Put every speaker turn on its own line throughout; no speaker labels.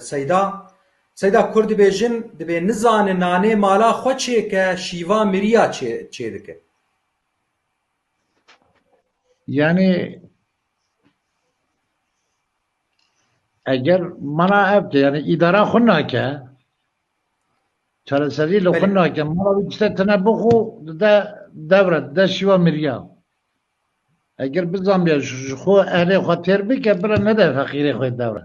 Seyda, Seyda kur dibêjin dibê nizane nanê mala xwe çêke şîva mirîya çêdike.
Yanî eger mana ev de yanî îdara xwe nake çareserî li xwe nake mala wî tişte tine bixwe dide devre dide şîva mirîya. Eger bizanbiya ji xwe ehlê xwe têr bike bira nede feqîrê xwe devre.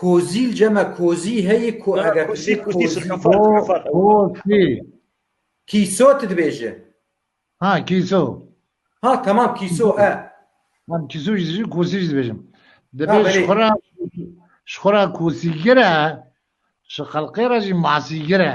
Kozîl cema kozî heyî ku eger kişî
kozî kozî
kîso tu dibêje ha
kîso ha
tamam kîso e Tam
kîso jî kozî jî dibêjim dibê ji xwe re ji xwe re kosîgir e ji xelqê re jî masîgir e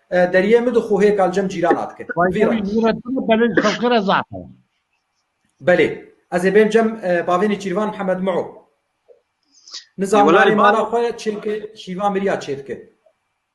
Deriyê min di xo hê kal cem cîrana dikin. Vî re. Vî re tu belê xelqê re zaf e. Belê. Ez ê bêm cem bavênê Çîrvan Mihemed Muo. Nizamanê mala xwe çêke şîva miriya çêdike.